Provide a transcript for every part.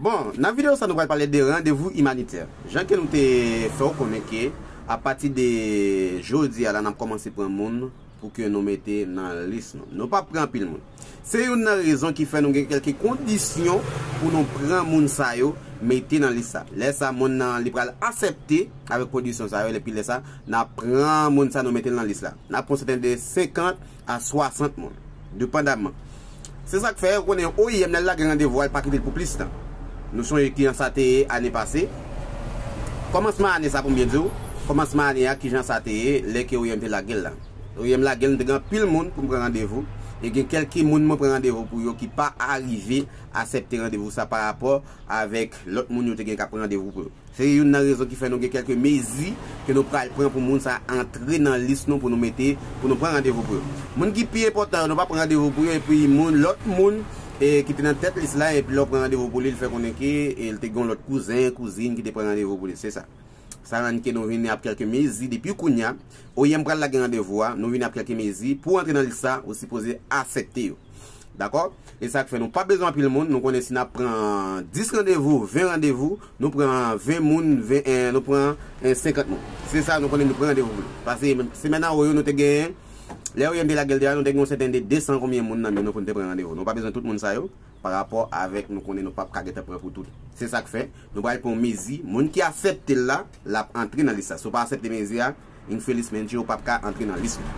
Bon, nan video sa nou pral pale de randevou imanitè. Jan ke nou te fè ou konnen ke a pati de jodi a la nap kòmanse pran moun pou ke nou mete nan lis nou. Nou pap pran anpil moun. Se youn nan rezon ki fè nou gen kèlke kondisyon pou nou pran moun sa yo mete nan lis sa. Lè sa moun nan li pral asèpte avèk kondisyon sa yo epi lè sa nap pran moun sa nou mete l nan lis la. Nap pran sèten de 50. a 60 moun, depandaman. Se sa k fè, ou konnen, oim nan lage randevou a, l pa kite l pou plis tan. Nou sonje ki jan sa te ye ane pase, kòmansman ane sa a, pou m byen di w, kòmansman ane a, ki jan sa te ye lè ke oim te lage l la. Oim lage l, m te gen anpil moun pou m pran randevou, e gen kèlke moun mwen pran randevou pou yo ki pa arive asèpte randevou sa a parapò avèk lòt moun yo te gen k ap pran randevou pou yo. Se youn nan rezon ki fè nou gen kèlke mezi ke nou pral pran pou moun sa antre nan lis nou pou nou mete, pou nou pran randevou pou yo. Moun ki pi enpòtan yo nou pa pran randevou pou yo epi moun, lòt moun ki te nan tèt lis la epi lè ou pran randevou pou li li fè konnen ke li te gen yon lòt kouzen, kouzin ki te pran randevou pou li. Se sa. Sa rann ke nou vini ap kèlke mezi depi kounya, oyèm pral lage randevou a, nou vini ap kèlke mezi, pou antre nan lis sa ou sipoze asèpte yo. Dakò? E sa k fè nou pa bezwen anpil moun, nou konnen si n ap pran 10 randevou, 20 randevou, nou pran 20 moun, nou pran 50 moun. Se sa nou konnen nou pran randevou pou li. Pase semèn anwo yo nou te gen, lè Oyen te lage l deja nou te gen yon sèten de 200 konbyen moun nan men nou pou n te pran randevou. Nou pa bezwen tout moun sa yo parapò avèk nou konnen nou p ap ka gen tan pran pou tout. Se sa k fè, nou pral pran yon mezi, moun ki asèpte l la, l ap antre nan lis la. Si w pa asèpte mezi a, Yn Felix Mendy ou pap ka antre nan lis mwen.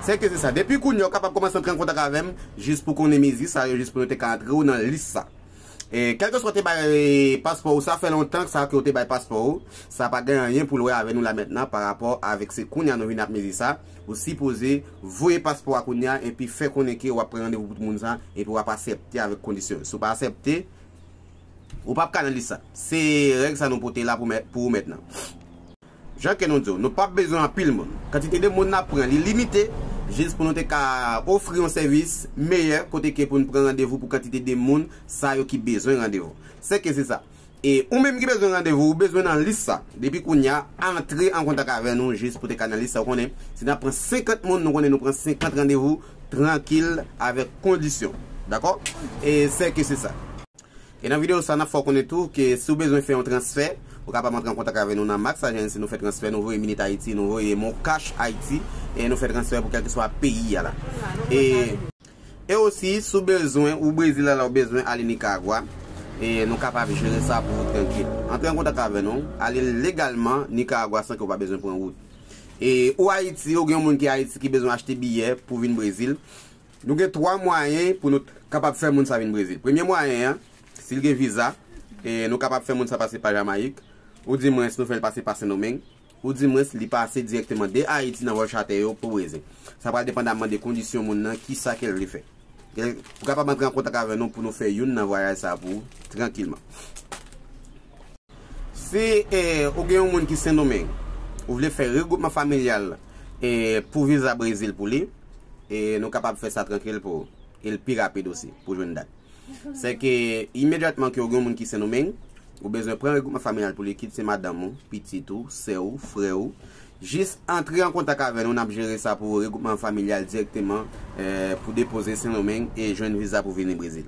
Sèke se sa. Depi kounya ou kapab kòmanse antre an kontak avèm jis pou konnen mezi sa yo jis pou yo te ka antre ou nan lis sa. Kèlke swa te bay paspò ou sa fè lontan sa ke ou te bay paspò ou sa pa gen anyen poul wè avè nou la mentnan pa rapò avèk se kounya nou vin ap mezi sa ou sipoze voye paspò a kounya epi fè konnen ke wap pran randevou pou moun sa epi wap asèpte avèk kondisyon yo si ou pa asèpte ou pap ka nan lis sa se règ sa nou pote la pou ou mentnan. Jan ke nou di w, nou pap bezwen anpil moun. Kantite de moun nap pran li limite jis pou nou te ka ofri yon sèvis meyè kote ke pou n pran randevou pou kantite de moun sa yo ki bezwen randevou. Se ke se sa. E ou menm ki bezwen randevou ou bezwen nan lis sa. Depi kounya antre an kontak avè nou jis pou te ka nan lis sa ou konnen. Si nap pran 50 moun nou konnen nou pran 50 randevou trankil avèk kondisyon. Dakò? E se ke se sa. E nan videyo sa, n ap fè w konnen tou ke si w bezwen fè yon transfè, ou kapab antre an kontak avè nou nan Max Agency, nou fè transfè, nou voye Minit Haiti, nou voye MonCash Haiti, e nou fè transfè pou kèlkeswa peyi a la. E. E osi, si w bezwen, ou Brezil a la, ou bezwen ale Nicaragua, e nou kapab jere sa pou ou trankil. Antre an kontak avè nou, ale legalman Nicaragua san ke w pa bezwen pran wout. E ou Haiti, ou gen yon moun ki Haiti ki bezwen achte biyè pou vin Brezil, Nou gen 3 mwayen pou nou kapab fè moun sa vin Brezil. Premye mwayen an, si l gen viza, e nou kapab fè moun sa pase pa Jamayik, ou di mwens nou fè l pase pa Sendomeng, ou di mwens li pase dirèkteman de Ayiti nan vòl chatè yo pou Brezil. Sa pral depandamman de kondisyon moun nan, ki sa ke l vle fè. Ou kapab antre an kontak avè nou pou nou fè youn nan vwayaj sa pou ou, trankilman. Si ou gen yon moun ki Sendomeng, ou vle fè regwoupman familyal pou viza Brezil pou li, nou kapab fè sa trankil pou ou. E l pi rapid osi pou jwenn dat. Sèke imedyatman ke ou gen yon moun ki Sendomeng, ou bezwen pran regwoupman familyal pou li, kit se madanm ou, pitit ou, sè ou, frè ou, jis antre an kontak avè nou, n ap jere sa pou ou, regwoupman familyal dirèkteman pou depoze Sendomeng e jwenn viza pou vini Brezil.